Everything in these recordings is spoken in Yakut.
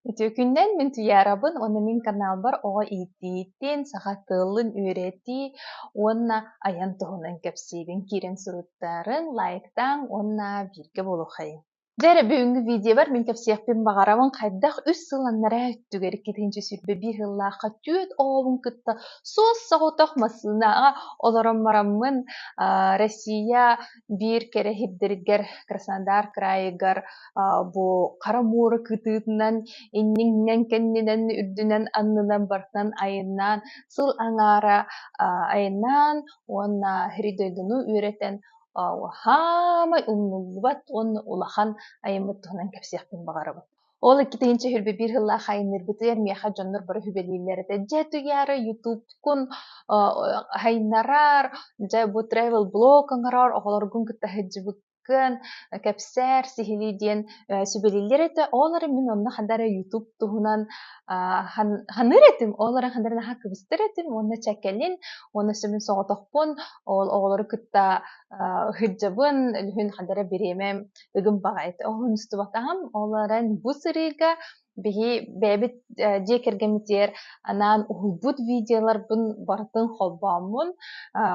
Үтүөкүннэн мин Туйаарабын уонна мин каналбар оҕо ииттии-ииттиин саха тылын үөрэтии уонна айан туһунан кэпсиибин киирэн суруттарыҥ, лайктааҥ уонна бииргэ буолуххайыҥ. Дьэ эрэ бүгүҥҥү видеобар мин кэпсиэхпин баҕарабын хайдах үс сыл аннараа өттүгэр иккитинчи сүүрбэ биир сыллаахха түөрт оҕобун кытта суос соҕотох массыынаҕа олорон бараммын Россия биир кэрэһирдэригэр Краснодар кыраайыгар бу хара муора кытыытынан инниҥнэн кэннинэн үрдүнэн аннынан барытынан айаннаан сыл аҥаара айаннаан уонна сири дойдуну үөрэтэн хаамай умнуллубат уонна улахан айаммыт туһунан кэпсиэхпин баҕарабын Ол икки тыһыынча үһүрбэ биир сыллаах айанныырбытыгар миэхэ дьоннор бары сүбэлииллэр этэ «Дьэ туйаары ютубкун айынарар, дьэ бу travel блог оҥорор, оҕолоргун кытта сылдьыбыккын, кэпсээр, сиһилии» диэн сүбэлииллэр этэ. Ол эрэн мин онно ханна эрэ ютуб туһунан саныыр этим, ол эрэн ханна эрэ наһаа кыбыстар этим уонна чэккэлин уонна сөбүн соҕотохпун ол оҕолору кытта сылдьабын, үлүһүн ханна эрэ бириэмэ ыгым баҕайыта уһунустубатаҕым ол эрэн бу сырыыга биһи бэйэбит дьиэ кэргэммитигэр анаан уһулбут видеоларбын барытын холбооммун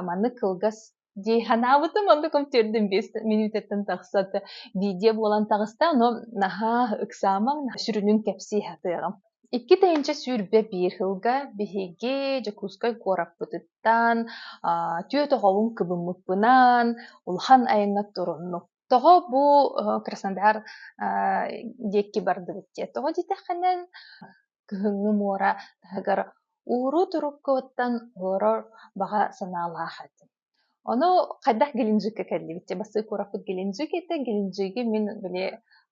маны кылгас дии санаабытым оннук төрдүн биэс минутаттан тахсат видео буолан таҕыста но наһаа ыксаамаҥ сүрүнүн кэпсии сатыаҕым Икки тыһыынча сүүрбэ биир сылга биһиги Дьокуускай куораппытыттан түөрт оҕобун кыбыммыппынан улахан айаҥҥа туруннук Тоҕо бу Краснодар диэки бардыбыт дьэ, тоҕо дитэххинэ кыһыҥҥы муора таһыгар ууруу-туруккуттан олорор баҕа санаалаах этим. Ону хайдах Геленджикка кэллибит? Дьэ, бастакы куораппыт Геленджикита. Геленджиги мин били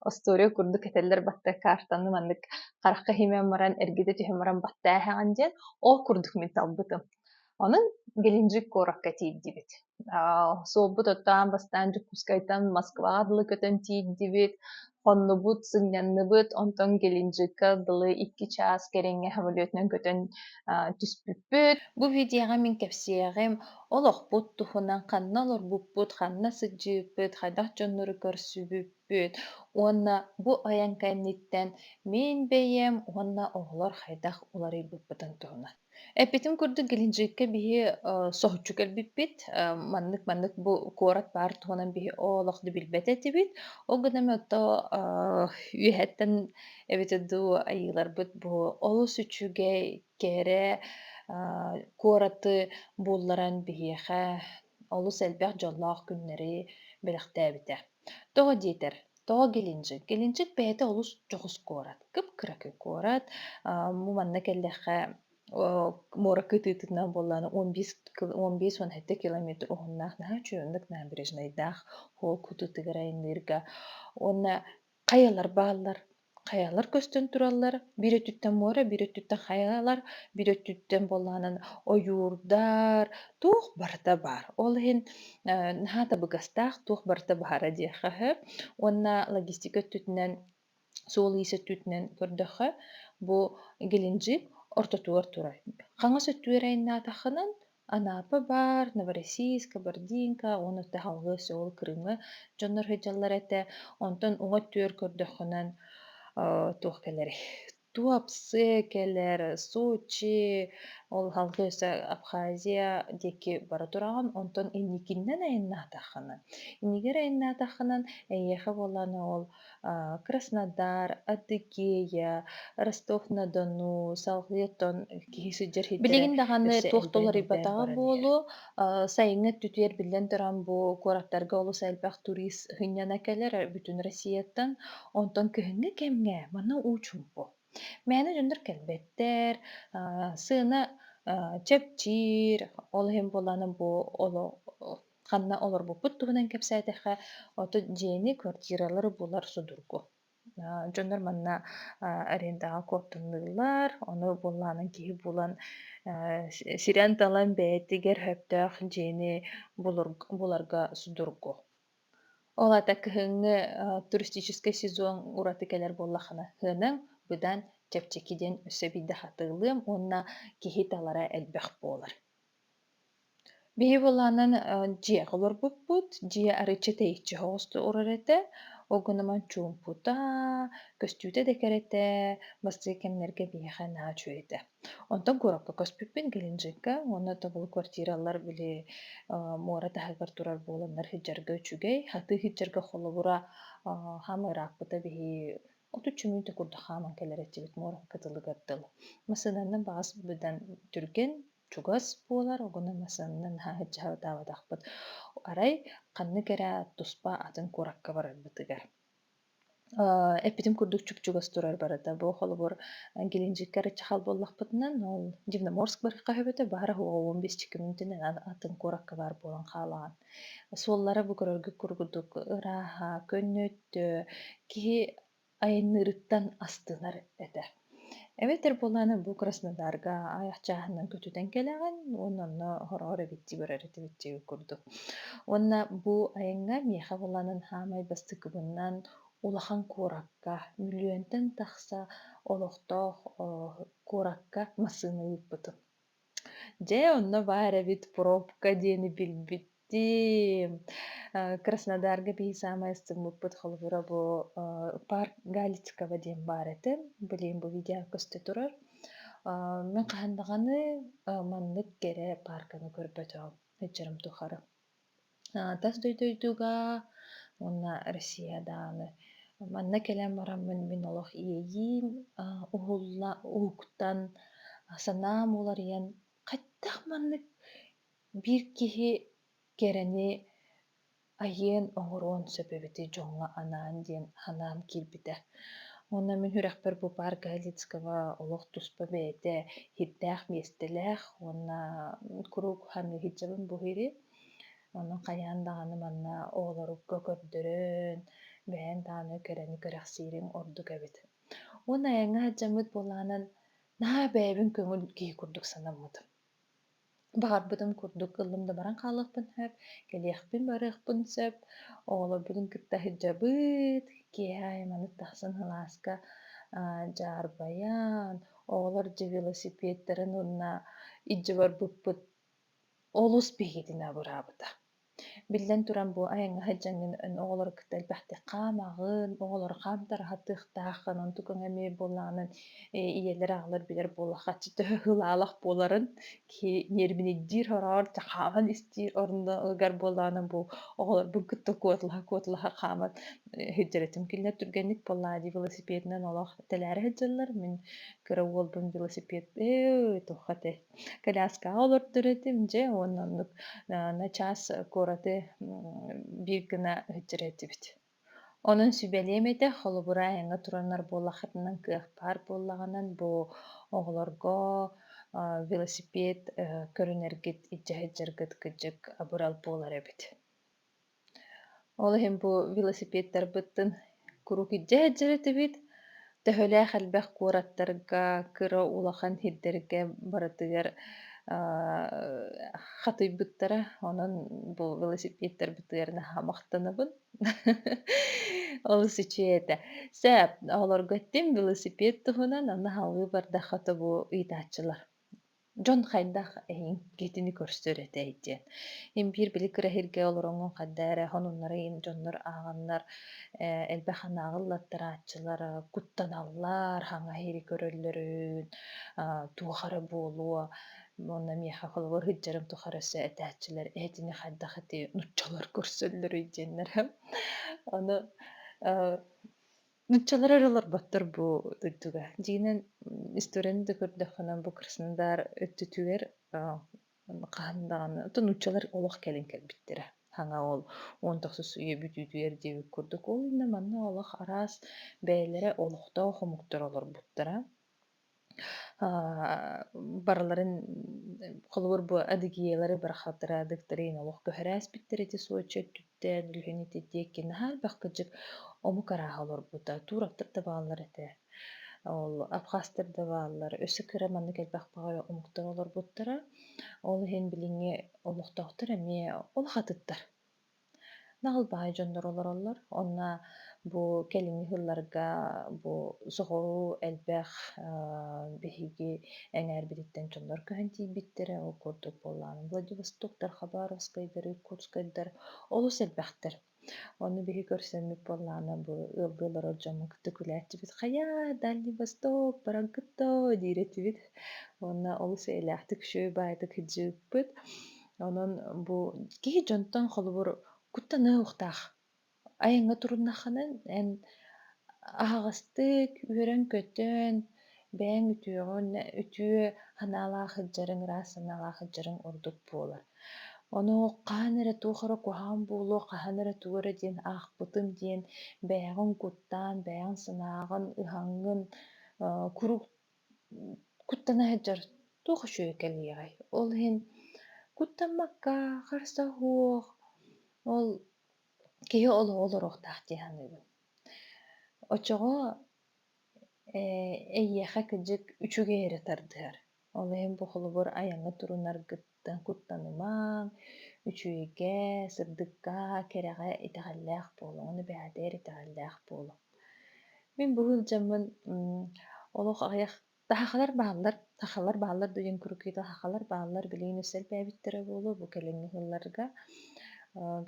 остуоруйа курдук этэллэр батта картаны маннык харахха химэн баран, эргитэ түһэн баран баттааһаҕын диэн ол курдук мин талбытым. Ону Геленджик куоракка тиийдибит. Суолбут оттоон бастаан Дьокуускайтан Москваҕа дылы көтөн тиийдибит, хоннубут, сынньанныбыт, онтон Геленджикка дылы икки чаас кэриҥэ самолетунан көтөн түспүппүт. Бу видеоҕа мин кэпсиэҕим олохпут туһунан ханна олорбуппут, ханна сылдьыыппыт, хайдах дьоннору көрсүбүппүт Бүт уонна бу айан кэнниттэн мин бэйэм уонна оҕолор хайдах уларыйбыппытын туһунан. Эппитим курдук, Геленджикка биһи э, соһуччу кэлбиппит. Э, маннык-маннык бу куорат баар туһунан биһи олох да билбэт этибит. Ол гына эмэ ото э, үөһэттэн эбэтэр дуу айыыларбыт бу олус үчүгэй, кэрэ э, куораты булларан биһиэхэ олус элбэх дьоллоох күннэри бэлэхтээбитэ. Тоҕо диэтэр, тоҕо Геленджик? Геленджик бэйэтэ олус дьоҕус куорат, кып-кыра куорат. Аа, бу манна кэллэххэ о муора кытыытынан буоллаан он биэс кил он биэс уон сэттэ километр уһуннаах наһаа үчүгэнник набережнайдаах холл кутутугар айанныырга уонна хайалар бааллар Хайалар көстөн тураллар, биир өттүттэн муора, биир өттүттэн хайалар, биир өттүттэн буоллаҕынан ойуурдар, туох барыта баар. Ол иһин э, наһаа табыгастаах туох барыта баара диэххэ үһү. Уонна логистика өттүтүнэн, суол иис өттүтүнэн көрдөххө, бу геленджик ортотугар турар. Хаҥас өттүгэр айаннаатаххынан, Анаапа баар, Новороссийск, Абerdeenка уонна таһылҕа Сеул Крымы дьоннор сылдьаллар этэ. Онтон уҥа түөр көрдөххүнэ, э, туох кэлэрий? Туапсе кэлэр, Сочи, ол алгыса Абхазия диэки бара тураҕын. Онтон инникиннэн айаннаатаххына, иннигэр айаннаатаххынан, эйиэхэ буоллаан ол Краснодар, Атыкея, Ростов-на-Дону, салгыы оттон киһи сылдьар сирдэрэ Билигин даҕаны өссө туох да элбээн уларыйбатаҕа баран иһэр. буолуо, а, сайыҥҥы өттүтүгэр биллэн туран бу куораттарга олус элбэх турист сынньана кэлэр бүтүн Россияттан. Онтон кыһыҥҥы кэмҥэ манна уу чуумпу. Мээнэ дьоннор кэлбэттэр, а, сыана а, чэпчиир. Ол иһин буоллаҕына бу оло ханна олорбуппут туһунан кэпсээтэххэ, оту дьиэни, квартиралары булар судургу. Э, дьоннор манна э, арендаҕа куоттуннулар, ону буоллаанан киһи булан э, сирэн-талан бэйэтигэр сөптөөх дьиэни буларга судургу. Ол аата кыһыҥҥы туристическай сезон ураты кэлэр буоллаххына сыанаҥ быдан чэпчэки диэн өссө биирдэ хатылыам уонна киһи талара элбэх буолар. Биһи буолаанан дьиэҕэ олорбуппут, дьиэ арычча тэйиччи оҕустурар этэ, ол гынан чуумпута, көстүүтэ да кэрэ этэ, бастакы кэмнэргэ биһиэхэ наһаа үчүгэй этэ. Онтон куоракка көспүппүт Геленджикка, уонна табылы квартиралар били муора таһыгар турар буоланнар иһдьэргэ үчүгэй, атыы иһдьэргэ холобура хаамыы ырааппыта биһи отут чөмпүүтэ курдук хааман кэлэр этибит муоракка дылыгар дылы. Массыынаны баҕас быдан түргэн, чугас буолар оҕону масанна наһаа сылдьаабатахпыт арай ханнык эрэ туспа атын куоракка барарбытыгар эппитим курдук чуп-чугас турар барыта бу холобур Геленджикке ырыччахал буоллахпытынан ол Дивноморск барыахха өһөбөтө баара уһуга он бесчикки мүнүтүнэн атын куоракка баар буолан хаалаҕын суоллара бу көрөргө кургутук ырааһа көннөттө киһи айанныырыттан астынар этэ. Эбэтэр буолааны бу Краснодарга аях чааһынан көтүтэн кэлэҕин уонна онно хороҕор эбитти көрөр этибитти курдук. Уонна бу айаҥҥа миэхэ буолаанын хаамай бастыкыбыннан улахан куоракка миллиөнтэн тахса олохтоох куоракка массыына ыыппытым. Дьэ, онно баар эбит пробка диэни билбитим. Э, Краснодарга биһи саамай ыстыммыппыт холобура бу э, парк Галичикова диэн баар этэ. Билигин бу видео көстө турар. Э, Мен хаһан даҕаны э, маннык кэрэ парканы көрбөтөҕүм. Ыччарым тухары. тас дойдуга уонна Россия даҕаны манна кэлэн бараммын мин олох иэйиим уһулла уһуктан санаам уларыйан хайдах маннык биир киһи кэрэни айыан оҥоруон сөп эбити дьоҥҥо анаан диэн санаам киирбитэ Уонна мин сүрэхпэр бу паар Галицкого олох туспа бэйэтэ иһирдээх миэстэлээх уонна куруук хаһан иһирдьэбин буһуйури. Онон хайаан даҕаны манна оҕолорукка көрдөрөн, бэйэҥ даҕаны кэрэни кэрэхсиириҥ ордук эбит. Уонна айаҥҥа дьаmmыт буолаанан наһаа бэйэбин көҥүл киһи курдук санаммытым. Баҕарбытын курдук ыллым да баран хаалыахпын сөп, кэлиэхпин-барыахпын сөп. Оҕолорбутун кытта сылдьабыт. Киэһэ айманы тахсан алааска аа дьаарбайан, оҕолор дьэ велосипедтарын уонна илдьэ барбыппыт олус биһигитин абыраабыта. Биллэн туран, бу айаҥҥа сылдьаҥҥын эн оҕолору кытта элбэхтик хаамаҕын, оҕолору хаам тараһатыахтаах, онон тукаҥ эмиэ буоллаҕынан э, ийэлэр аҕалар билэр буоллахха төһө ылаалах буоларын киһи ньиэрбинийдиир ороор дьэ хааман истиир орунугар буоллаҕынан бу оҕолорбун кытта куотулаха-куотулаха хааман э, сылдьарытым кинилэр түргэнник буоллаа дии велосипедынан олох тэлээрэ сылдьаллар мин кыра уолбун велосипед э туохха этэй Коляскаҕа олордор этим дьэ уонна оннук аа, на час куораты биир гына өһүттэр этибит. Онон сүбэлиэм этэ, холобура айаҥҥа тураннар буоллаххытынан кыах баар буоллаҕынан бу оҕолорго аа, велосипед э, көрүнэргит, илдьэ сылдьаргыт кырдьык абырал буолар эбит. Ол иһин бу велосипедтарбыттан куруук илдьэ сылдьар этибит. Төһөлөөх элбэх куораттарга кыра улахан сирдэргэ барытыгар хатыйбыттара. Онон бу велосипедтарбытыгар наһаа махтанабын. Олус үчүгэй этэ. Сөп, оҕолорго этим велосипед туһунан, аны салыы бардахха тобу ыйытааччылар. Дьон хайдах эйиҥ киитини көрсөр этэй диэн. Мин биир били кыра иһиргэ олороҥҥун хайдах эрэ хонуннарын дьоннор ааҕаннар, э, элбэх анааҕы ыллаттарааччылары куттаналлар, хаҥас иһири көрөллөрүн, а, туох эрэ буолуо, уонна миэхэ холобур ыһыддьарым тухары өссө этээччилэр ээтини хайдах ити нууччалар көрсөллөрүй диэннэр. Ону, э, Нууччалар эрэ олорботтор бу дойдуга. Дьиҥинэн историяны да көрдөххүнэ бу Краснодар өттүтүгэр хаһан даҕаны то нууччалар олох кэлин кэлбиттэрэ. Саҥа ол он тохсус үйэ бүтүүтүгэр диэбит курдук. Ол иннэ манна олох араас бэйэлэрэ олохтоох омуктар олорбуттара. аа барыларын холобур бу Адыгеялары барахсаттара Адыктарыын олох көһөрөөспүттэр ити соччо өттүттэн үлүһүн ити диэки наһаа элбэх кырдьык омук арааһа олорбута туураттар да бааллар этэ ол абхазтар да бааллар өссө кыра маннык элбэх баҕайы омуктар олорбуттара ол иһин билиҥҥи олохтоохтор эмиэ олох атыттар Нахыл баһай дьоннор олороллор. Онно бу кэлиҥҥи сылларга бу соҕуруу элбэх аа биһиги эҥээрбититтэн дьоннор көһөн тиийбиттэрэ. Ол курдук буоллаҕына Владивостоктар, Хабаровскайдар, Иркутскайдар олус элбэхтэр. Ону биһи көрсөммүт буоллаҕына бу ыалга олорор дьону кытта күлээччибит. «Хайаа, Дальний Восток, бараҥкыттоо!» диир этибит. Уонна олус эйэлээхтик үчүгэй баайдык кыдьыыппыт. Онон бу киһи дьонтон холобур куттаныа уохтаах. Айаҥҥа туруннаххынан эн аһаҕастык үөрэн-көтөн, бэйэҥ үтүөҕүн, үтүө санаалаах сылдьарыҥ, ыраас санаалаах сылдьарыҥ ордук буолар. Ону хаһан эрэ туох эрэ куһаҕан буолуо, хаһан эрэ тугу эрэ диэн аахпытым диэн бэйэҕин куттаан, бэйэҥ санааҕын, ыһаҥҥын куруук Куттана сылдьар туох үчүгэй кэлиэҕэй? Ол иһин куттаммакка харса суох ол киһи олороохтоох дии саныыбын. Оччоҕо эйиэхэ кыдьык үчүгэй эрэ тардыһар. Ол иһин бу холобур айаҥҥа турунаргыт куттанымаҥ, үчүгэйгэ, сырдыкка, кэрэҕэ итэҕэллээх буолуоҥ, эбээтэр итэҕэллээх буолуҥ. Мин бу сылдьаммын олох аҕыйах сахалар бааллар, сахалар бааллар диэн курукуйда сахалар бааллар билигин өссө элбээбиттэрэ буолуо бу кэлиҥҥи сылларга.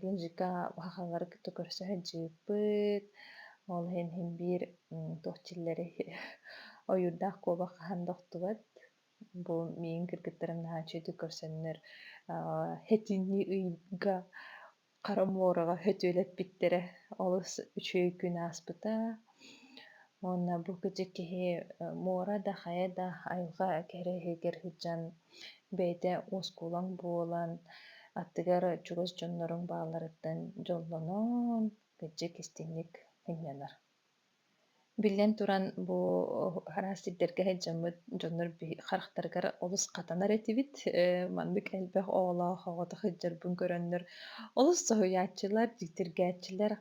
Гензика сахалары кытта көрсө сылдьыппыт, ол иһин иһин биир туох дьиллэри ойуурдаах куобах хаһан да охтубат. Бу миин кыргыттарын наһааччы итик көрсөннөр этинии ыйга хара муораҕа сөтүөлэппиттэрэ олус үчүгэй күн ааспыта. Уонна бу кэтик киһи муора да хайа да айылҕа кэрэ иһигэр сылдьан бэйэтэ уоскулаҥ буолан аттыгар чугас дьонноруҥ баалларыттан дьоллонон кырдьык истиҥник мунньанар. Биллэн туран, бу араас сирдэргэ сылдьаммыт дьоннор харахтарыгар олус хатанар этибит. Э, маннык элбэх оҕолоох оҕото сылдьарбын көрөннөр олус соһуйааччылар, дьиктиргээччилэр.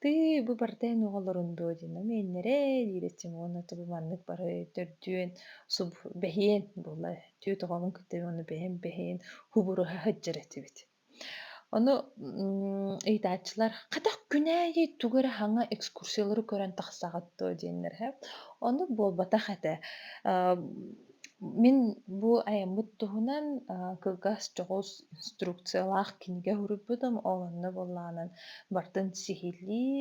"Тыы, бу барыта эн оҕолорун дуо?" диэн, "Ну, миэннэрэй?" диирэ Симон, "Ата бу маннык бары төрдүөн, суб бэһиэн буолла. Түөт оҕоҕун кытта ону бэйэм бэһиэн, хубуруһа сылдьар этибит" Ону ыйытааччылар «Хатах күн аайы тугу эрэ хаҥа экскурсиялары көрөн тахсаҕыт дуо?» диэннэр иһэ. Ону буолбатах этэ. Мин бу айаммыт туһунан кылгас дьоҕус инструкциялаах кинигэ суруйбутум. Ол онно буоллаҕынан бартын сиһилии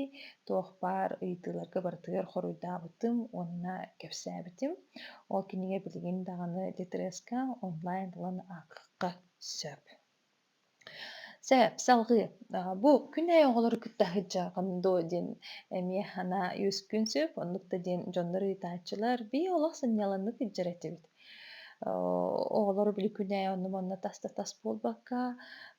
туох баар ыйытыыларга барытыгар хоруйдаабытым уонна кэпсээбитим. Ол кинигэ билигин даҕаны Литреска онлайн ылан ааххахха Сөп. Сөп, салҕыы. А, бу күн эйэ оҕолору кытта сылдьаҕын дуо диэн эмиэ санаа үөскүүн сөп. Оннук да диэн дьоннор ыйытааччылар, "Бии олох сынньалаҥнык илдьэр этибит". Оо, оҕолору били күн эйэ онно-манна таста тас буолбакка,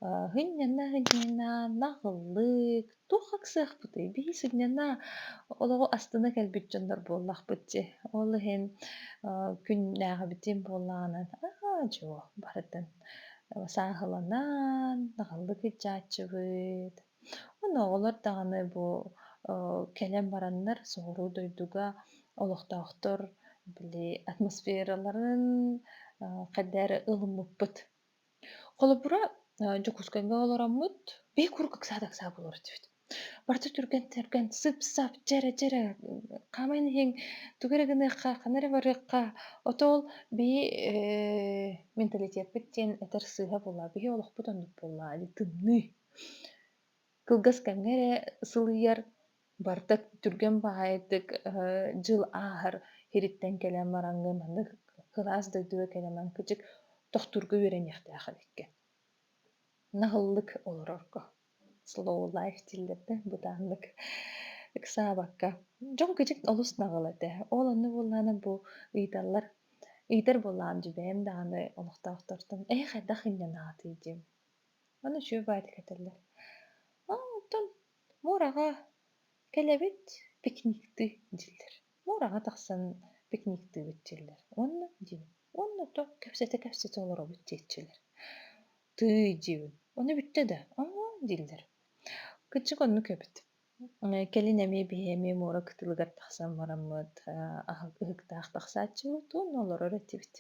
а, һынньана-һынньана, наҕыллык Туох ыксыахпытый? Бии сынньана олоҕу астына кэлбит дьоннор буоллахпыт дии. Ол иһин э, күннээҕибитин буоллаҕынан аа дьуо барытын сааһыланан аҕаллык иччааччыбыт. Онно оҕолор даҕаны бу э, кэлэн бараннар соҕуруу дойдуга олохтоохтор били атмосфераларын э, хайдах эрэ ылыммыппыт. Холобура, э, Дьокуускайга олороммут, бэй куруук ыксаата-ыксаата буолар этибит. Барыта түргэн-түргэн, сып-сап, дьэрэ-дьэрэ, хаамайын иһиҥ, тугу эрэ гыныахха, хана эрэ барыахха. Ото ол бэйи э, менталитетпыт диэн этэр сыыһа буоллаа, биһи олохпут оннук буоллаа, дии тымныы. Кылгас кэмҥэ эрэ сылыйар, барыта түргэн баҕайытык э, дьыл ааһар иһириттэн кэлэн бараҥҥын маннык кылаас дойдуга кэлэмэн кычык тохтуурга үөрэниэхтээх эбиккэ. Наһыллык олорорго. Slow life дииллэрдэ бытааннык ыксаабакка. Дьон кычык олус наҕыл этэ. Ол онно буоллаҕына бу ыйыталлар ыйытар буоллаҕым дьэ бэйэм даҕаны олохтоохтортон "Ээ хайдах инньэ анаатый" диэн. Аны үчүгэй баайдык этэллэр. Оттон муораҕа кэлэбит пикниктыы дьиллэр. Муораҕа тахсан пикниктыыбыт дьиллэр. Уонна диибин. Уонна то кэпсэтэ-кэпсэтэ олоробут диэччилэр. Тыый диибин. Ону бүттэ да, оҥоо дииллэр. Кырдьык оннук эбит. Э, кэлин эмиэ биһи эмиэ муора кытылыгар тахсан бараммыт, э, аһык ыһыктаах тахсааччыбыт уонна олорор этибит.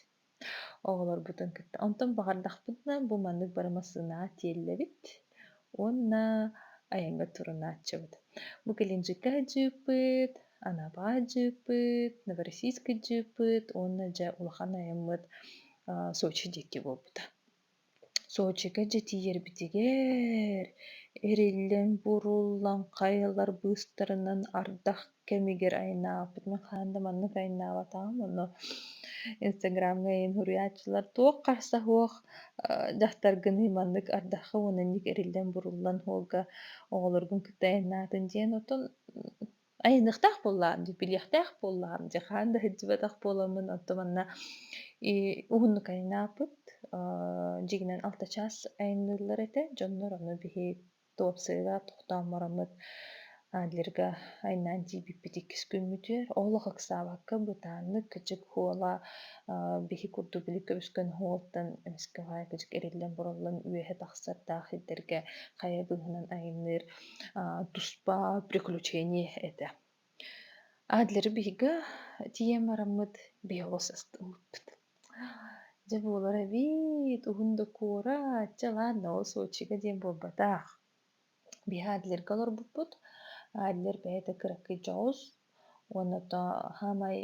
оҕолорбутун кытта онтон баҕардахпытына бу маннык бары массыынаҕа тиэллэбит уонна айаҥҥа турунааччыбыт бу кэлинчиккэ дьыыппыт анапаҕа дьыыппыт новороссийскай дьыыппыт уонна дьэ улахан айаммыт сочи диэки буолбута Сочига дьэ тиийэрбитигэр эриллэн буоруллан хайалар быыстарынан ардах кэмигэр айнаабыт мин хаһан да маннык айнаабатаҕым ону инстаграмҥа ийэм суруйааччылар туох харса суох дьахтаргыный маннык ардахха уонна инник эриллэн буруллан оҕолоргун кытта айнаатын диэн отон Айаныахтаах буоллаҕым дии, билиэхтээх буоллаҕым дии, хаһан да сылдьыбатах буоламмын, оттон манна и уһуннук айаннааппыт, аа дьиҥинэн алта чаас айанныыллар этэ, дьоннор ону биһи туопсайга тохтооммороммут, адлерга айаннаан тиийбиппит иккис күммүтүгэр олох ыксаабакка бытааннык кычык хуола, аа биһи курдук илик көмүскэн уоттан эмискэ баай кычык эриллэн-буруллан үөһэ тахсардаах сирдэргэ хайа быыһынан айанныыр туспа приключение этэ. Адлары биһиги тиийэн бараммыт биһиги састыбыппыт. Дьэ буолар эбит уһун да куорат дьалаан да ол Сочига диэн буолбатах. Биһи Адлерга олорбуппут. Адлер бэйэтэ кыракый дьоҕус Уонна то саамай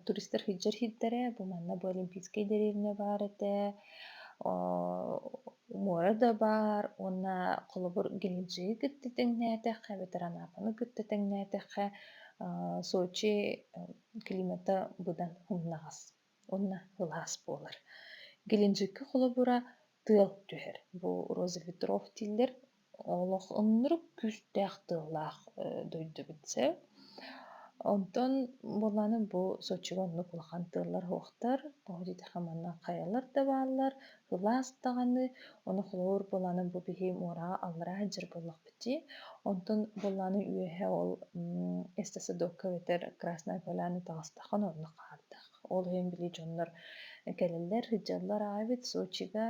туристар сылдьар сирдэрэ, бу манна бу Олимпийская деревня баар этэ, муора да баар уонна холобур Геленджиги кытта тэҥнээтэххэ эбэтэр Анапаны кытта тэҥнээтэххэ Сочи климата быдан умнаҕас уонна ылаас буолар. Геленджикка холобура тыал түһэр. Бу розеветров дииллэр. Олох ынырык күүстээх тыаллаах дойдубут сeb. Онтон буоллааны бу сочига оннук улахан тыаллар хуохтар, тоҕо дитэхэ манна хайалар да бааллар, ылаас даҕаны, оны холобур буоллааны бу биһи муораҕа аллараа дьыр буоллахпыт дии. Онтон буоллааны үөһэ ол эсте садокка эбэтэр Красная Поляна таҕыстаххын онно хаардах. Ол иһин били дьоннор кэлэллэр, сыдьаллар аайбыт Сочига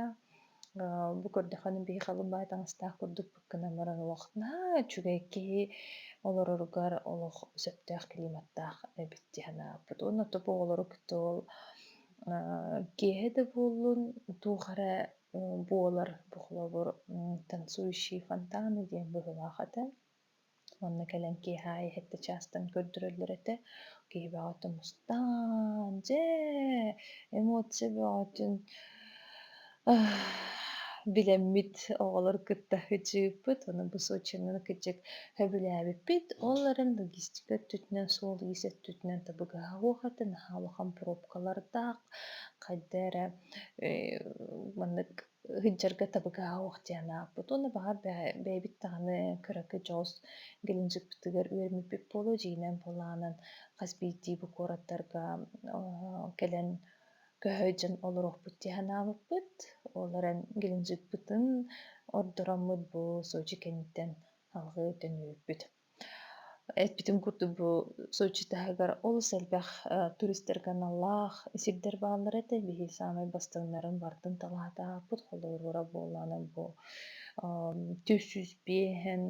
бу көрдөхөн биһи халымбай таҥастаах курдукпут гынан баран олох наһаа үчүгэй киһи олороругар олох сөптөөх климаттаах эбит дии санааппыт. Уонна тупу оҕолору кытта ол киэһэ да буоллун туох эрэ буолар бу холобур танцующий фонтаны диэн быһыылаах этэ уонна кэлэн киэһэ аайы сэттэ чаастан көрдөрөллөр этэ киһи бөҕөтө мустаан дьэ эмоция бөҕөтүн билэммит оҕолор кытта ыччыыппыт ону бу сочины кыччык сөбүлээбиппит ол эрэн логистика өттүтүнэн суол иис өттүтүнэн табыгаһа уохата наһаа улахан пробкалардаах хайда эрэ маннык ыһынчарга табыгаһа ох диэн ааппыт уонна баҕар бэйэбит даҕаны кыракы дьоус геленджикпитигэр үөрмүппүт буолуо дьиинэн булаанан хас биирдии бу куораттарга кэлэн көһө дьон олоруохпут дии санаабыппыт ол эрэн геленджикпытын ордороммут бу сочи кэнниттэн алҕыы төннүбүппүт Эппитим курдук бу Сочи таһыгар олус элбэх туристарга аналлаах сирдэр бааллар этэ. Биһи саамай бастыҥнарын бардын талаата аппыт. Холобура буоллаҕына бу түс жүз биэһэн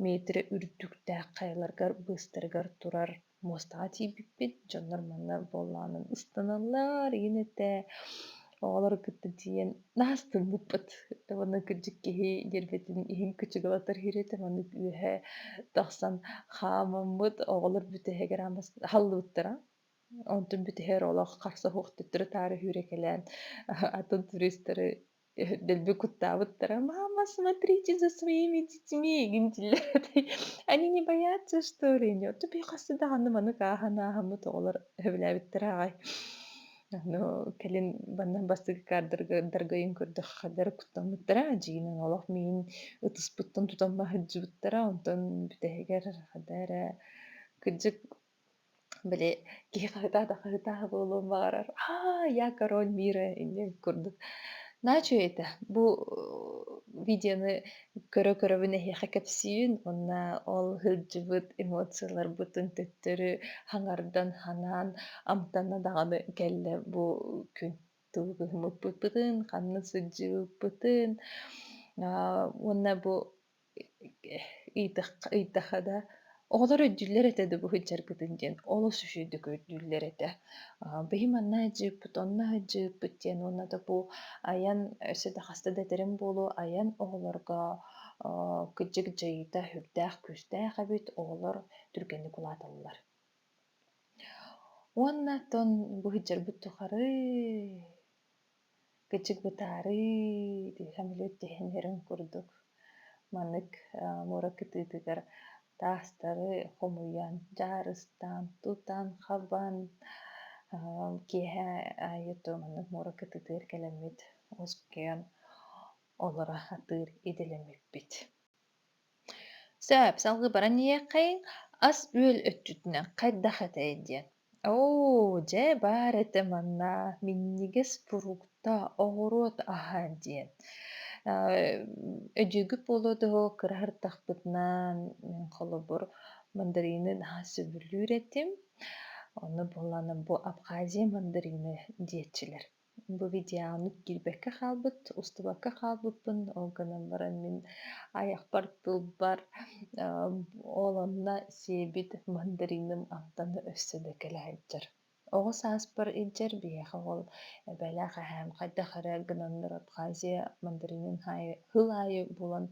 метрэ үрдүктээх хайаларгар быыстарыгар турар муостаҕа тиийбиппит дьоннор манна буоллаҕынан ыстаналлар игин этэ оҕолору кытта тиийэн наастыммыппыт уонна кырдьык киһи диэрбэтин иһин кычыгылатар иһир этэ маннык үөһэ тахсан хаамаммыт оҕолор бүтэһигэр аамас аһаллыбыттара онтун бүтэһигэр олох харса суох төттөрү таары үүрэ кэлээн атын туристары Дэлби куттаабыттара: "Мама, смотрите за своими детьми!" гинтиллэр этэй. Они не боятся, что ли? Нио тупи хас даҕаны маны кааһан ааһаммыт оҕолор сөбүлээбиттэрэ аҕай. Аны кэлин манна бастакы каадырга даргайын көрдөххө дары куттаммыттара. Дьиҥинэн олох миин ытыспыттан тутан маһыддьыбыттара. Онтон бүтэһигэр хата эрэ кырдьык Били киһи хаһытаата хаһытааһы буолуон баҕарар, "Аа, я король мира" иннин курдук. Naa үчүгэй этэ. Бу видеоны көрө-көрөбүн эһиэхэ кэпсиибин уонна ол сылдьыбыт эмоцияларбытын төттөрү хаҥардан, санаан амтанна даҕаны кэллэ бу күн. Тугу гыммыппытын, ханна сылдьыбыппытын, аа, уонна бу ыйытахха ыйытахха да оҕолор өйдүүллэр этэ да бу сылдьаргытын диэн олус үчүгэйдик өйдүүллэр этэ быйым манна сдьыыппыт онно сдьыыппыт диэн уонна да бу айан өссө да хаста да этэрим буолуо айан оҕолорго кырдьык дьайыыта сүрдээх күүстээх эбит оҕолор түргэнник улааталлар уонна тон бу сылдьарбыт тухары Кычыгытаарыы дии сөмөлүөт дьэһэннэрин курдук маннык муора кытыытыгар таастары хомуйан дьаарыстаан тутан хабан киэһэ аайы то маннык муора кытыытыгар кэлэммит оскуйан олоро атыыр идэлэммиппит сөп салгыы баран иһиэххэй ас-үөл өттүтүнэн хайдах этэй диэн Оо, дьэ баар этэ манна минньигэс фрукта, оҕуруот аһа диэн. Э, Өдьүгү полоду кыра ардахпытынан холобур мандаринын аһа сөбүлүүр этим. Ону булан бу Абхазия мандарины диэччилэр. Бу видеоны киирбэккэ хаалбыт, устубакка хаалбыппын. Ол гынан баран мин айахпар тылбар оолонно сиэбит мандариным амтана өссө да кэлэһэйдэр. Оҕо сааспар илдьэр биһиэхэ ол эбэлээх эһээм хайдах эрэ гынаннар Абхазия мандаринын аайы сыл аайы булан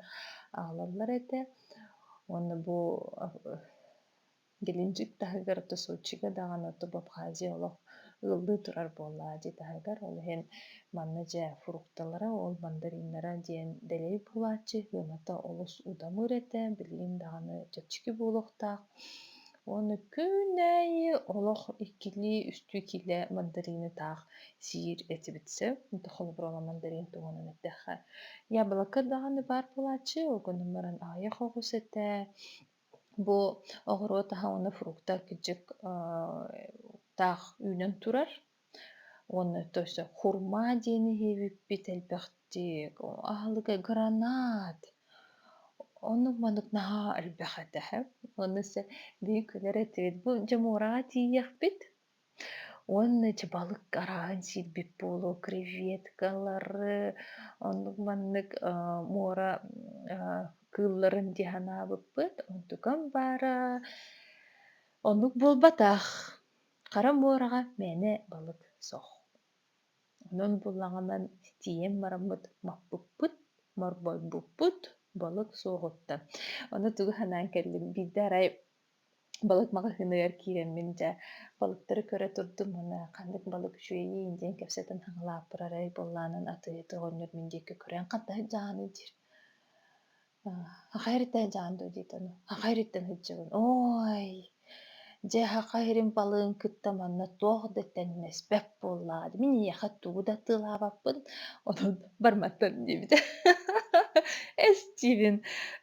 аҕалаллар этэ. Уонна бу Геленджик таһыгар Тосоччига даҕаны Тобу Абхазия олох ыалдыы турар буоллаҕа дии таһыгар. Ол иһин манна дьэ фрукталара, ол мандариннара диэн дэлэй булааччы сыаната олус удамыр этэ, билигин даҕаны чэпчэки буолуохтаах. Уонна күн аайы олох иккилии-үстүү килэ мандаринытаах сиир этибит сөп. Холобура мандарин туһунан эттэххэ. Яблоко даҕаны баар буолааччы, ол гынан баран аҕыйах оҕус этэ, Бу оҕуруот аһа уонна фрукта кичик таах үүнэн турар уонна то есть хурма диэн иһибиппит элбэхтик аһылыга гранат оннук-маннык наһаа элбэх этэ ону билигин күлэр этибит бу дьэ муораҕа тиийиэхпит уонна ити балык арааһын сиирбит буолуо креветкалары оннук маннык муора кыылларын дии санаабыппыт онтукам баара оннук буолбатах хара муораҕа мээнэ балык суох онон буллаҕынан тиийэн бараммыт маппыппыт морбойбуппут балык суоҕуттан ону тугу санаан кэллим биирдэ арай балык маҕаһыыныгар киирэммин дьэ балыктары көрө турдум уонна ханнык балык үчүгэйий диэн кэпсэтэн хаҥалааппар арай буоллаанан атыыһыты оҕонньор мин диэки көрөн хантаһыт дьааһыный диир аха эриттэн дьаан дуу диэтэ ону аха эриттэн сылдьабын ой дьэ аха эрим балыгын кытта манна туох да тэннэспэт Буоллаҕа дии, мин эйиэхэ тугу да атыылаабаппын, онон барматтан диэбитэ. Эстиибин.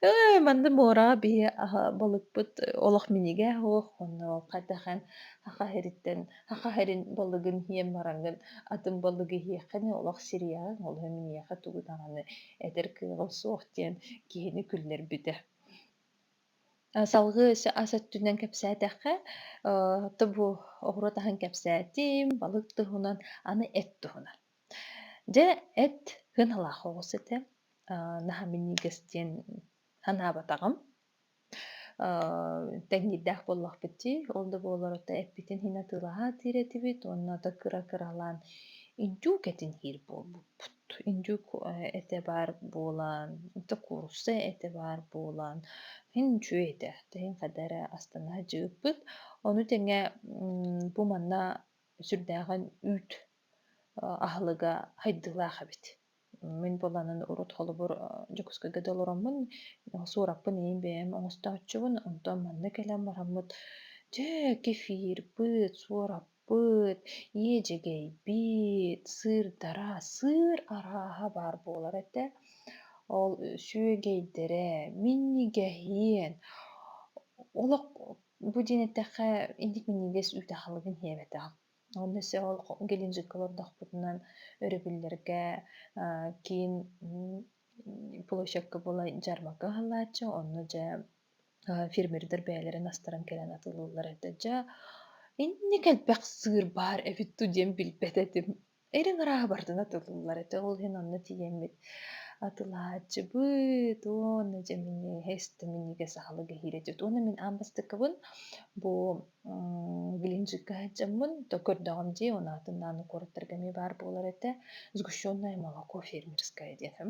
Ыы, манна муораҕа биһи аһа балыкпыт олох минигээх онно хайдах эн хахаһириттэн хахаһирин балыгын иһиэн бараҥҥын, атын балыгы иһиэххин олох сириэҕиҥ, олуһу мин эйиэхэ тугу даҕаны этэр кыаҕым суох диэн киһини күллэрбитэ. Салгыы өссө ас өттүнэн кэпсээтэххэ, то бу оҕуруот аһын кэпсээтим, балык туһунан, аны эт туһунан. Дьэ, эт кыһалаах оҕус этэ. Аа, наһаа минньигэс диэн санаабатаҕым. Аа, тэҥниирдээх буоллахпыт дии, ол да буоллар ото эппитин иһин атыылаһа атыыр этибит уонна ото кыра-кыралаан индюк этин иһир буолбуппут. Индьик этэ баар буолан, инте куурусса этэ баар буолан, иһин үчүгэй этэ. Тэһин хадаа эрэ астына садьыыппыт. Ону тэҥэ бу манна сүрдээҕин үүт аһылыга хайдыылаах эбит. Мин буоланын урут холобур Дьокуускайга да олороммун, Суураппын ийэм бэйэм оҥостооччубун. Онтон манна кэлэн бараммыт, дьэ, кефир, пыт, суорап Быт, иэдьэгэй биит, сыырдара, сыыр арааһа баар буолар этэ. Ол сүөгэйдэрэ, минньигэһиэн, олох бу диэн эттэххэ инник минньигэс үүт аһылыгын иһээбэтэх. Онно өссө ол геленджикка олордохпутуна өрөбүллэргэ киин площадка буолай дьармака ыһыллааччы, онно дьэ фермердэр бэйэлэрин астаран кэлэн атыллыллар этэ дьэ инник элбэх сыыр баар эбит дуу диэн билбэт этим эрин арааһы бардан атыллыллар этэ ол иһин онно тиийэммит атылааччыбыт уонна дьэ минньигэһэ истэ минньигэс аһылык иһирэ дьут уонна мин аан бастакыбын бу глинжикка сылдьаммын то көрдөҕүм дии он аатын ааны куораттарга эмиэ баар буолар этэ сгущенное молоко фермерское диэтэм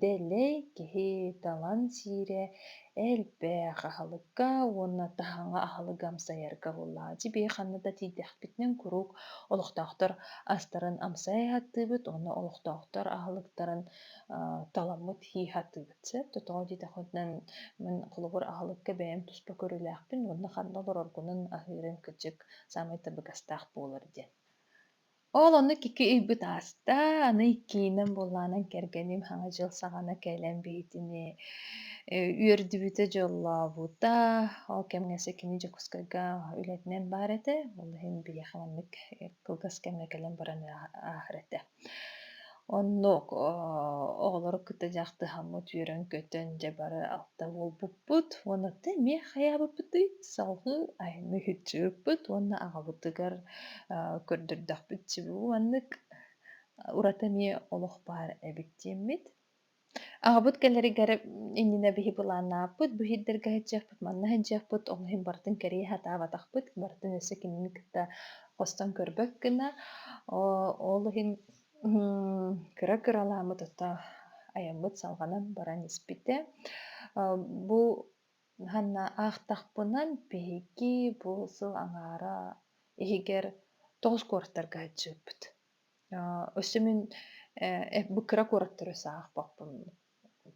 Дэлэй киһи талан сиирэ элбэх аһылыкка уонна таһаҕа аһылыгы амсайарга буоллаҕа. Дьиби ханна да тиийдэхпитинэн куруук олохтоохтор астарын амсайа сатыыбыт уонна олохтоохтор аһылыктарын таламмыт һии сатыыбыт. Чэ, тотоҕо диэтэхпитинэ мин холобур аһылыкка бэйэм туспа көрүүлээхпин уонна ханна олороргунан аһыырым кырдьык саамай табыгастаах буолар диэн. Ол оннук икки ыйбыт ааста, аны иккиинэн буоллаанан кэргэним Саҥа дьыл саҕана кэлэн биһитини э, үөрдүбүтэ, дьоллообута. Ол кэмҥэ кини Дьокуускайга үлэтинэн баар этэ. Ол иһин биһиэхэ маннык э, кылгас кэмҥэ кэлэн баран ааһар этэ. Оннук оҕолору кытта дьахтыһаммыт үөрэн-көтөн дьэ бары алта буолбуппут уонна ты эмиэ хайаабыппытый салҕыы айанныыһыччыыппыт уонна аҕабытыгар көрдөрдөхпүт чебу маннык ураты эмиэ олох баар эбит диэммит Аҕабыт кэлэригэр иннинэ биһи былааннааппыт, бу иһирдэргэ сылдьыахпыт, манна сылдьыахпыт, ол иһин барытын кэрийэ сатаабатахпыт, барытын өссө кинини кытта хостон көрбөт гына. Ол иһин кыра-кыралааммыт ото айаммыт салҕанан баран испитэ. Бу ханна аахтахпына биһиги бу сыл аҥаара иһигэр тоҕус куораттарга сылдьыбыппыт. Өссө мин бу кыра куораттары саҕахпаппын.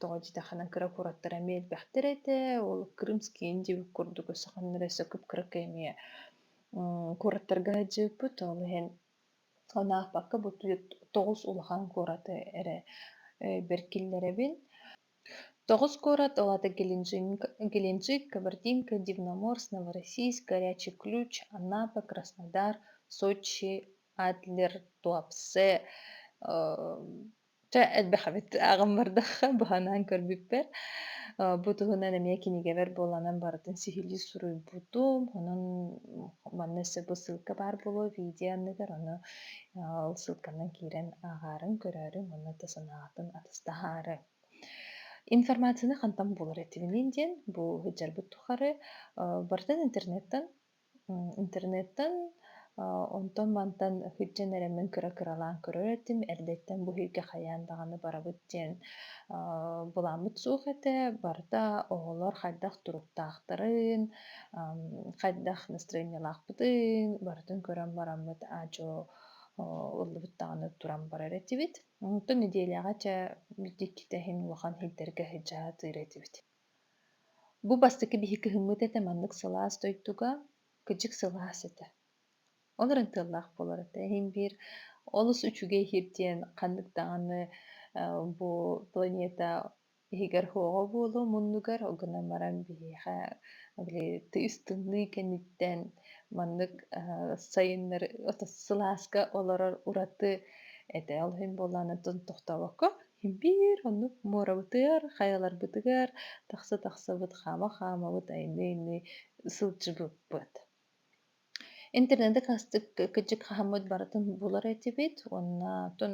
Тоҕо диэтэххинэ кыра куораттар эмиэ элбэхтэр этэ. Ол Крымский диэбит курдук өссө ханна өссө кып-кыракый эмиэ куораттарга сылдьыбыппыт. Ол иһин анаахпакка бу тоҕус улахан куораты эрэ бэркиллэрэбин. тоҕус куорат ол аата геленджик кабардинка дивноморск новороссийск горячий ключ анапа краснодар сочи адлер туапсе чэ элбэх эбит ааҕан бардахха быһанаан көрбүппэр бу туһунан эмиэ кинигэбэр буоланан барытын сиһилии суруйбутум онон манна өссө бу ссылка баар буолуо видео анныгар ону Ол ссылканан киирэн ааҕаарыҥ, көрөөрүҥ уонна да санааҕытын атастаһаары. Информацияны хантан булар этибиниин диэн бу сылдьарбыт тухары барытын интернеттан интернеттан онтон мантан сылдьан эрэ мин кыра-кыралаан көрөр этим эрдэттэн бу сиргэ хайаан даҕаны барабыт диэн былааммыт суох этэ барыта оҕолор хайдах туруктаахтарын хайдах настроениялаахпытын барытын көрөн бараммыт аадьо ыллыбыт даҕаны туран барар этибит. Онтон неделяҕа чэ дьиктитэ иһин улахан иһитэргэ сыдьаа атыыр этибит. Бу бастакы биһик кыһыммыт этэ маннык сылаас дойдуга кыдьык сылаас этэ. Олорон тыллаах буолар этэ иһин биир олус үчүгэй иһит диэн ханнык даҕаны бу планета иһигэр һуоҕа буолуо муннугар гынан баран биһиэхэ били тыыс тымныы кэнниттэн маннык сайыннары сылааска олорор ураты этэ ол иһин буоллаан оттон тохтообокко биир оннук муорабытыгар хайаларбытыгар тахса тахсабыт хаама хаамабыт айныы айныы сылдьыбыппыт Интернеты хастык кыдьык хаһаммыт барытын булар этибит уонна тун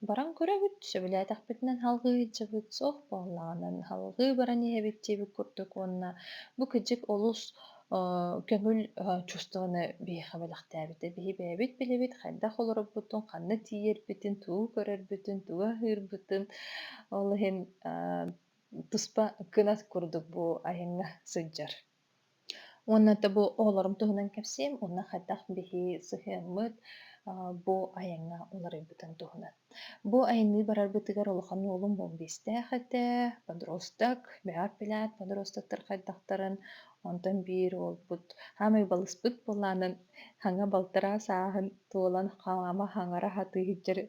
баран көрөбүт, сөбүлээтэхпитинэ салгыһыйдьыбыт, суох буоллаҕынан салгыы баран иһэбит диэбит курдук уонна бу кыдьык олус э, көҥүл э, чувствоны биһиэхэ бэлэхтээбитэ. Биһи бэйэбит билэбит хайдах олорорбутун, ханна тиийэрбитин, тугу көрөрбүтүн, тугу аһыырбытын. Ол иһин э, туспа кынат курдук бу айаҥҥа сылдьар. Уонна это бу оҕолорум туһунан кэпсиим уонна хайдах биһи сыһыаммыт а, бу айаҥҥа уларыйбытын туһунан. Бу айанныы барарбытыгар улахан уолум буомбиистээх этэ, подросток, бэҕэр билээт подростоктар хайдахтарын, онтон биир уолбут саамай балыспыт буолаанын хаҥа балтараас ааһын туолан хаама хаҥара сатыы сылдьар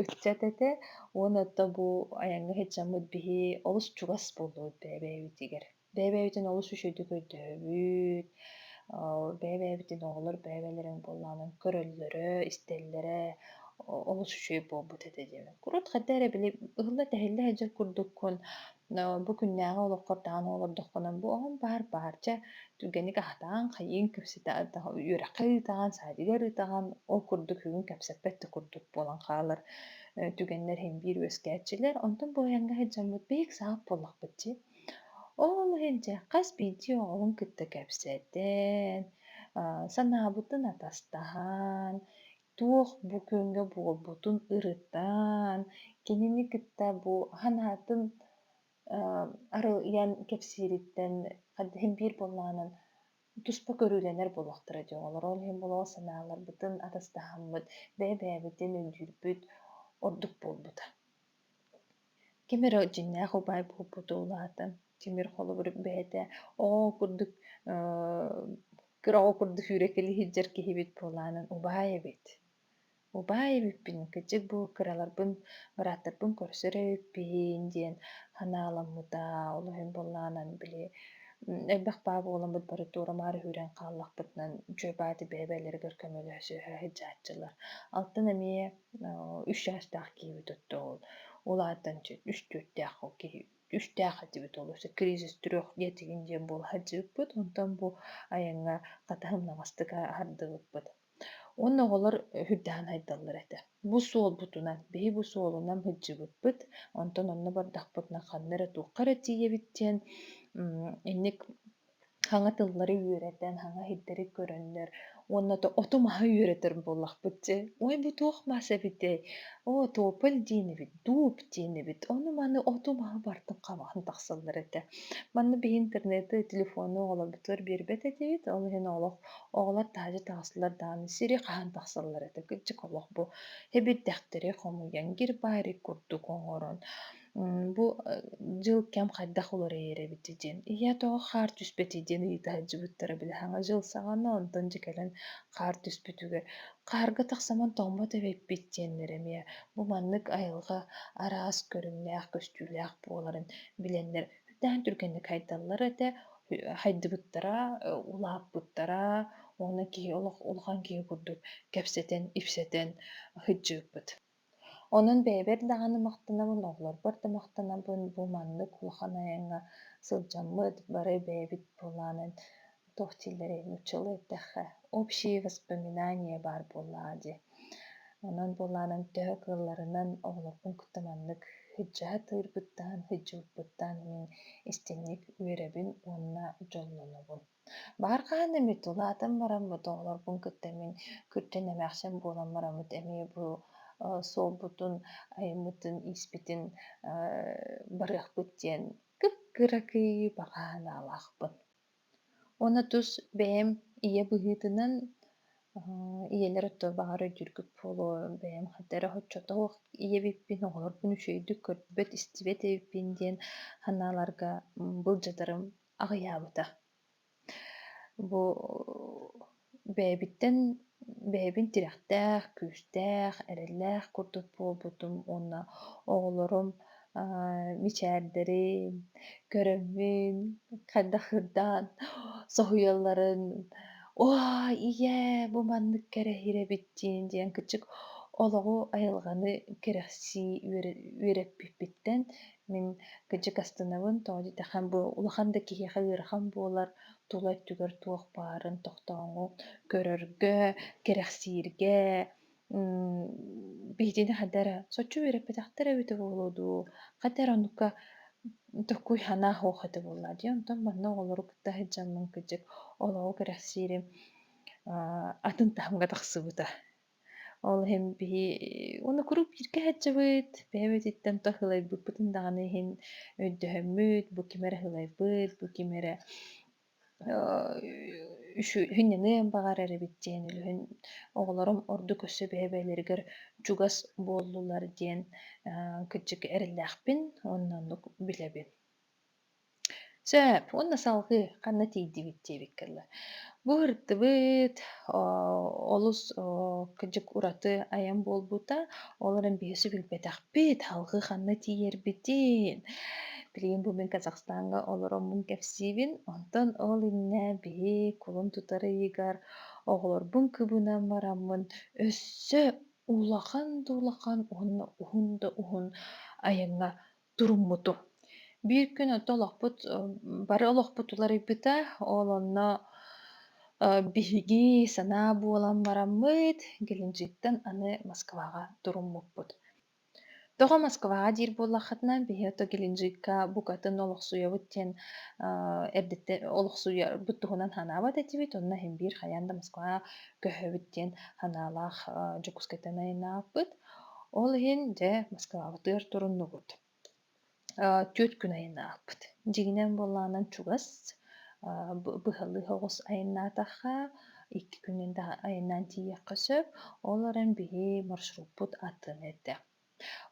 ыччат этэ уонна это бу айаҥҥа сылдьаммыт биһи олус чугас буолуо бэйэ-бэйэбитигэр. бэйэ-бэйэбитин олус үчүгэйдик өйдөһөбүт, бэйэ-бэйэбитин оҕолор бэйэ-бэйэлэрин буоллаҕынан көрөллөрө, истэллэрэ олус үчүгэй буолбут этэ диэмин. Урут хайда эрэ били ыһылла-тэһиллэ сылдьар курдуккун, бу күннээҕи олоххор даҕаны олордоххуна бу оҕоҥ баар баарча түргэнник аһатаҕын, хайыыҥ кэпсэтэ үөрэххэ ыытаҕын, саадыгар ыытаҕын, ол курдук бүгүн кэпсэппэт да курдук буолан хаалар түгэннэр иһин биир үөскээччилэр. Онтон бу айанга сылдьаммыт бэйик саҕах буоллахпыт дии. Ол иһин дьэ хас биирдии оҕоҕун кытта кэпсэтэн, санаабытын атастаһан, туох бу күҥҥэ буолбутун ырытан, кинини кытта бу санаатын арыйан кэпсиириттэн хайдыһын биир буоллаҕынан туспа көрүүлэнэр буолуохтара дии оҕолор. Ол иһин буолуо санааларбытын атастаһаммыт, бэйэ-бэйэбитин өйдүүрбүт ордук буолбута. ким эрэ дьиҥнээх убаай буолбута улаатан тимир холобур бэйэтэ оо курдук кыраҕы курдук сүүрэ кэбиһиттэр киһибит буолаанан убаай эбит убаай эбиппин кырдьык бу кыраларбын бырааттарбын көрсө эрэ эппиһин диэн санааламмыта олоһун буоллаанан били элбэх баа буоламмыт бары туорамаары сүүрэн хааллахпытынан дьуйбааты бэйэ-бэйэлэригэр көмөлөһө сыһа сыдьааччылар алтан эмиэ үс чаастаах киһибит отто ол ол аатынан үс түөртээх ол киһи үстээх этибит ол өссө кризис трех диэтигин диэн буола сылдьыбыппыт онтон бу айаҥҥа хатыһымнаҕастык аһардыбыппыт онно оҕолор үрдэҕин айдаллар этэ бу суолбутунан биһи бу суолунан сылдьыбыппыт онтон онно бардахпытына ханна эрэ туохха эрэ тиийэбит диэн инник саҥа тыллары үөрэтэн, саҥа иһиттэри көрөннөр уонна то оту-маһы үөрэтэр буоллахпыт дьэ, "Ой, бу туох мас эбитэй? Оо, тополь диэнибит, дууп диэнибит, ону-маны оту-маһы бартын хабаан тахсаллар этэ. Манна биһи интернеты, телефону оҕолорбутугар биэрбэт этибит, ол иһин олох оҕолор таһырдьа таҕыстылар даҕаны сири хаһан тахсаллар этэ. Кырдьык олох бу эбирдэхтэри хомуйан, гир-баайрык курдук оҥорон Бу дьыл кэм хайдах уларыйар эбит диэн, ийэ тоҕо хаар түспэтий диэн ыйыта сылдьыбыттара билиһаҥа дьыл саҕана, онтон дьэ кэлэн хаар түспүтүгэр хаарга тахсаман тоҥмот эбиппит диэннэр эмиэ бу маннык айылҕа араас көрүҥнээх көстүүлээх буоларын билэннэр үрдээн түргэнник хайдаллара этэ, хайдыбыттара, улааппыттара уонна киһи олох улахан киһи курдук кэпсэтэн, ипсэтэн сылдьыбыппыт. Онон бэйэбэр даҕаны махтанабын, оҕолорбор да махтанабын, бу маннык улахан айаҥҥа сылдьаммыт, бары бэйэбит буолаанын туох дииллэрэй, нууччалыы эттэххэ общие воспоминания баар буоллаҕа дии. Онон буолаанын төһө кыалларынан оҕолорбун кытта маннык сыдьаһатыырбыттан, сыдьууппуттан мин истиҥник үөрэбин уонна дьоллонобун. Баҕар хаһан эмит улаатан баран бу тоҕолорбун кытта мин күрдьэн эмээхсин буолан бараммыт эмиэ бу э, суолбутун, айаммытын, ииспитин э, барыахпыт диэн кып-кыракый баҕа санаалаахпын. Уонна тус бэйэм ийэ быһыытынан э, ийэлэр өттө баҕар өйдүүргүт буолуо бэйэм хата эрэ оччото ийэбиппин оҕолорбун үчүгэйдик көрбөт истибэт эбиппин диэн санааларга былдьатарым аҕыйаабыта. Бу бэйэбиттэн бэйэбин тирэхтээх, күүстээх, эрэллээх курдук буолбутум уонна оҕолорум мичээрдэри көрөммүн хайдах ырдаан соһуйалларын уа ийээ бу маннык кэрэһир эбит диэн диэн кычык олоҕу айылҕаны кэрэхсии үөрэппиппиттэн Мин кырдьык астынабын, тоҕо диэтэххэ бу улахан да киһиэхэ ыарахан буолар, тула өттүгэр туох баарын тохтооҥу көрөргө, кэрэхсииргэ биһиги хайда эрэ соччо үөрэппэтэхтэр эбитэ буолуо дуу, хата эрэ оннукка такой санаа суох этэ буоллаа дии. Онтон манна оҕолору кытта сылдьаммын кырдьык олоҕу кэрэхсиирим атын таһымҥа тахсыбыта. Ол иһин биһи уонна куруук бииргэ сылдьабыт, бэйэбититтэн то сылайбыппытын даҕаны иһин өйдөһөммүт, бу ким эрэ сылайбыт, бу ким эрэ сүрүнньэныан баҕарар эбит диэн үлүһүн оҕолорум ордук өссө бэйэ-бэйэлэригэр чугас буоллулар диэн кырдьык эрэллээхпин, онно оннук билэбин. Сөп, уонна салгыы ханна тиийдибит диэбиккэ дылы. Бу ыһыктыбыт, олус кыдьык ураты айан буолбута. Ол эрэн биһиэхэ билбэтэхпит, салгыы ханна тиийэрбитин. Билигин бу мин Казахстаҥҥа олороммун кэпсиибин. Онтон ол иннэ биһи кулун тутар ыйыгар оҕолорбун кыбынан бараммын өссө улахан да улахан уонна уһун да уһун айаҥҥа туруммутум. Биир күн оттон олохпут, бары олохпут уларыйбыта. Ол онно Э, биһиги санаа буолан бараммыт, Геленджиктан аны Москваҕа туруммуппут. Тоҕо Москваҕа диир буоллаххытына, биһи ото Геленджикка букатын олохсуйабыт диэн э, эрдэттэ олохсуйарбыт туһунан санаабат этибит. Онно иһин биир хайаан да Москваҕа көһөбүт диэн санаалаах э, Дьокуускайтан айанааппыт. Ол иһин, дьэ, Москваҕа тыар туруннубут. Түөрт күн айан аахпыт. Дьиҥинэн буоллаҕынан чугас, быһалыы оҕус айаннаатахха, икки күнүн да айаннаан тиийиэххэ сөп. Ол эрэн биһи маршруппут атын этэ.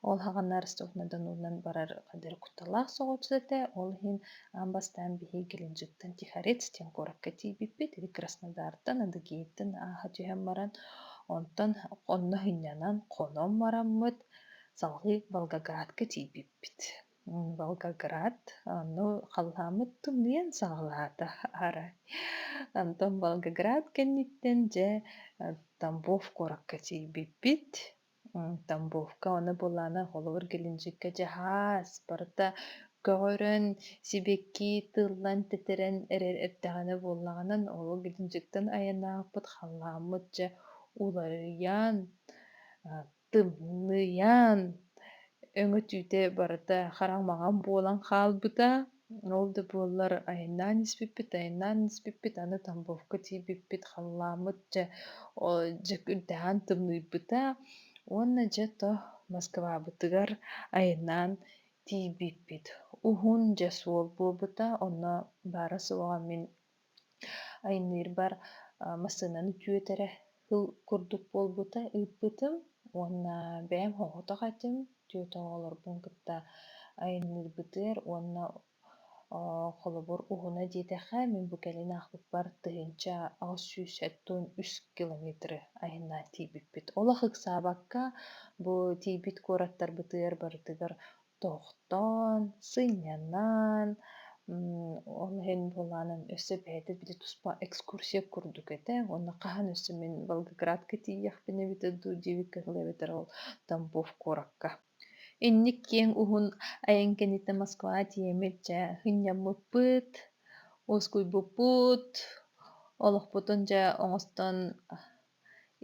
Ол хаҕанар Ростов-на-Донунан барар кыталаах соҕус этэ. Ол иһин Аан бастаан биһиги Геленджиктан Тихорец диэн куоракка тиийбиппит. Ити Краснодартан, Адыгейтан ааһа түһэн баран, онтон онно һынньанан хонон бараммыт, салгыы Волгоградка тиийбиппит. Волгоград ону халлааммыт тымныйан саҕалаата арай. Онтон Волгоград кэнниттэн дьэ Тамбов куоракка тиийбиппит. Тамбовка аны былаана холобур кэлинчиккэ дьаһаас барыта көҕөрөн, сибэкки тыллан тэтэрэн эрэр эрдэҕинэ буоллаҕынан ол кэлинчиктэн айан аахпыт халлааммыт дьэ уларыйан, тымныйан өҥөтүүтэ барыта хараҥмаҕан буолан хаалбыта. Ол да буоллар айаннаан испиппит, айаннаан испиппит, аны тамбовка тиийбиппит, халлааммыт дьэ дьэ күнтэһэн тымныйбыта уонна дьэ то Москвабытыгар айаннаан тиийбиппит. Уһун дьэ суол буолбута, онно баара суоҕа мин Айанныырбар массыынаны түөтэрэ сыл курдук буолбута ыыппытым уонна бэйэм хоһотох этим түөтэ оҕолорбун кытта айанныырбытыгар уонна холобур уһуна диэтэххэ мин бу кэлин аахпыппар тыһыынча аҕыс сүүс сэттуон үс километры айаннаа тиийбиппит. Олох ыксаабакка бу тиийбит куораттарбытыгар барытыгар тохтоон, сынньанан, ол иһин буолаанын өссө бэйэтэ били туспа экскурсия курдук этэ уонна хаһан өссө мин Волгоградка тиийиэхпин эбитэ дуу диэбит кыһыл эбэтэр ол Тамбов куоракка инник киэҥ уһун айан кэнниттэн Москва тиэмит дьэ сынньаммыппыт уоскуйбуппут олохпутун дьэ оҥостон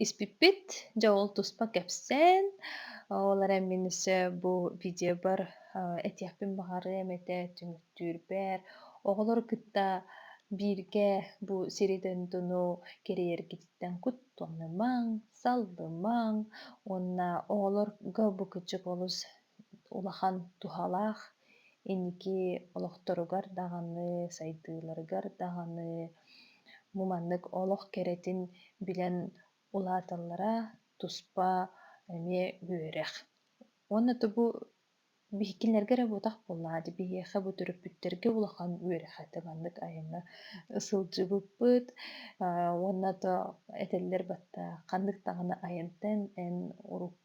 испиппит дьэ ол туспа кэпсээн ол эрэн мин өссө бу видеобар этиэхпин баҕарыам этэ түмүктүүрбэр оҕолору кытта бииргэ бу сири дойдуну кэрийэргититтэн куттанымаҥ саллымаҥ уонна оҕолорго бу кычык олус улахан туһалаах. Инники олохторугар даҕаны, сайдыыларыгар даҕаны муманнык олох кэрэтин билэн улааталлара туспа эмиэ үөрэх. Уонна тугу биһикилэргэ эрэ буотах буоллаҕа дии, биһиэхэ бу төрөппүттэргэ улахан үөрэхэ маннык айана сылдьыбыппыт. Уонна то этэллэр баттаа ханнык даҕаны айантан эн урут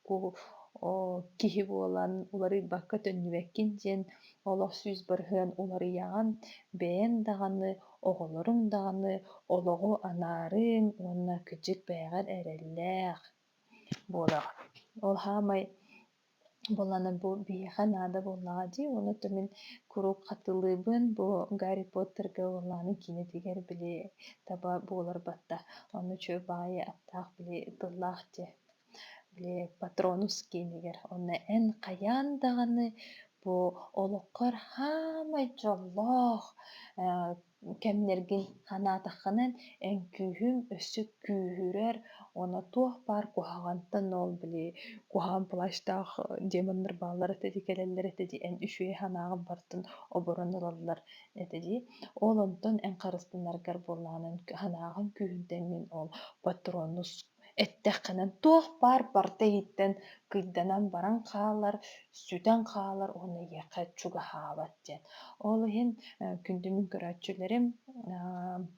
киһи буолан уларыйбакка төннүбэккин диэн олох сүүс барыһыан уларыйаҕын бэйэҥ даҕаны оҕолоруҥ даҕаны олоҕу анаарыҥ уонна кыдьык бэйэҕэр эрэллээх буолаҕын ол саамай буоллаҕына бу биһиэхэ наада буоллаҕа дии онута мин куруук хатылыыбын бу гарри поттерга буоллаҕына киинэтигэр били таба буолар батта ону чөл баҕайы аптаах били тыллаах дии Патронус киинигэр. Онно эн хайаан даҕаны бу олоххор хаамай дьоллоох кэмнэргин санаатаххына өҥкүүһүм өссө күүһүрэр уонна туох баар куһаҕантан ол били куһаҕан плащтаах демоннар бааллар этэ дии кэлэллэр этэ дии эн үчүгэй санааҕын бартын оборон ылаллар этэ дии ол онтон эн харыстанаргар буоллаҕына санааҕын күүһүн тэҥҥин ол патронус Эттэххинэ, туох баар барыта иһиттэн кыйданан баран хаалар, сүтэн хаалар уонна эйиэхэ чугаһаабат диэн. Ол иһин э, күндүмүн көрөөччүлэрим, э,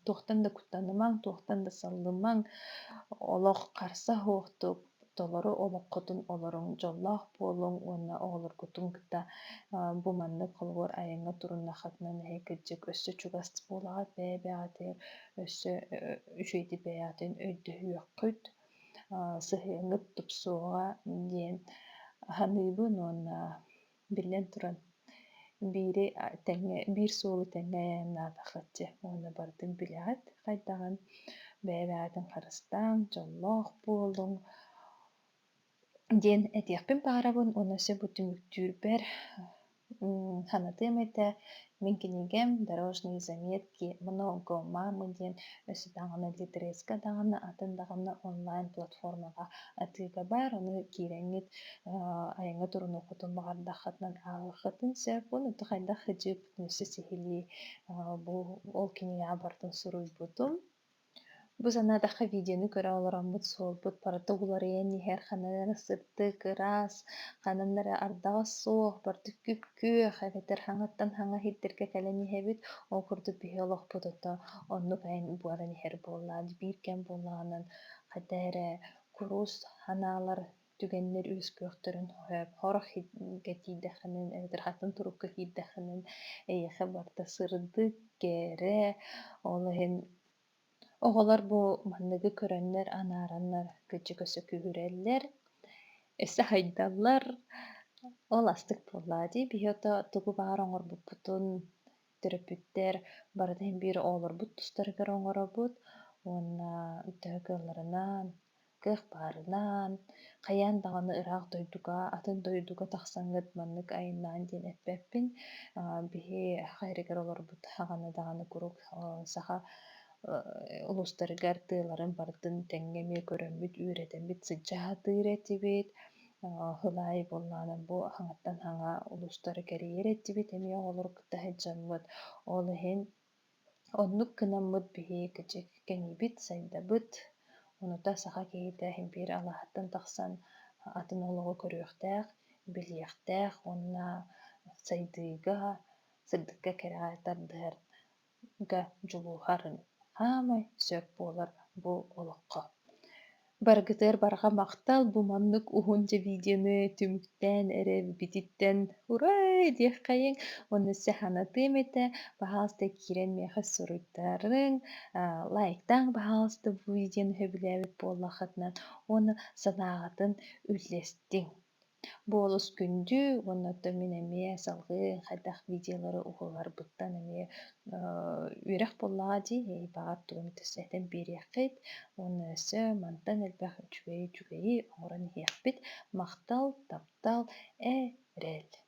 туохтан да куттанымаҥ, туохтан да саллымаҥ, олох харса суохтук толору олоххутун олоруҥ, дьоллоох буолуҥ уонна оҕолоргутун кытта э, бу маннык холобур айаҥҥа туруннаххытына эһэ кырдьык өссө чугас буолаҕыт, бэйэ-бэйэҕитигэр өссө үчүгэйдик бэйэҕитин өйдөһүөххүт сыһыаҥҥыт тупсуоҕа диэн саныыбын уонна биллэн туран биири тэҥҥэ биир суолу тэҥҥэ айаннаатаххыт дьэ уонна барытын билэҕит хайдаҕын бэйэ-бэйэҕитин харыстааҥ дьоллоох буолуҥ диэн этиэхпин баҕарабын уонна сөп бу түмүктүүрбэр санатыам этэ мин кинигэм дорожные заметки много мамы диэн өссө даҕаны литреска даҕаны атын даҕаны онлайн платформаҕа атыыга баар ону киирэҥҥит айаҥҥа турунуоххутун баҕардаххытынан ааҕыаххытын сөп уонна хайдах ыдьыыппытын өссө сиһилии бу ол кинигэҕэ барытын суруйбутум Бу санаатахха видеону көрө олороммут суолбут барыта уларыйан иһэр, ханан эрэ сырдык, ыраас, ханан эрэ ардаҕас суох, бардык күп-күөх эбэтэр хаҥаттан хаҥа иһитэргэ кэлэн иһэбит. Ол курдук биһи олохпут ото оннук буолан иһэр буоллаҕа. Биир кэм буоллаҕынан хата эрэ курус санаалар түгэннэр үөскүөхтэрин хорох кэтиирдэххинэн эбэтэр хатан турукка киирдэххинэн эйиэхэ барыта сырдык кэрэ ол иһин оҕолор бу манныгы көрөннөр анаараннар кыччыкөсө күүһүрэллэр өссө хайдаллар ол астык буоллаа дии биһиэхэ тугу баара оҥорбуппутун төрөппүттэр барыта иһин биир оҕолорбут тустарыгар оҥоробут уонна төһө кыалларынан кыах баарынан хайаан даҕаны ыраах дойдуга атын дойдуга тахсаҥҥыт маннык айаннаан диэн эппэппин биһи хайырыгар олорбут даҕаны даҕаны куруук саха улуустарыгар тыаларын барытын тэҥҥэ эмиэ көрөммүт үөрэтэммит сыдьаатыыр этибит Сыл аайы буоллаҕына бу хаҥаттан хаҥа улуустары кэрийэр этибит эмиэ оҕолору кытта сылдьаммыт. Ол иһин оннук гынаммыт биһиги кэчик кэҥиибит, сайдабыт. Онута саха киһитэ импиэр алааһыттан тахсан атын олоҕу көрүөхтээх, билиэхтээх уонна сайдыыга, сырдыкка кэрэҕэ тардыһар да дьулуһарын хаамай сөп буолар бу олоххо. Баргытыгар барҕа махтал бу маннык уһун телевиденэ түмүктээн эрэ бититтэн урай диэххэйиҥ уонна сыханатыам этэ пожалуйста киирэн миэхэ суруйтарыҥ лайктаан пожалуйста бу видеоны сөбүлээбит буоллаххытына уонна санааҕытын үллэстиҥ Буолус күндү уонна оттон мин эмиэ салгыы хайдах видеолары уһулларбыттан эмиэ үөрэх буоллаҕа дии, баҕар тугун этэн биэриэххит уонна өссө мантан элбэх үчүгэйи үчүгэйи оҥорон иһиэхпит. Махтал, таптал, эрэл.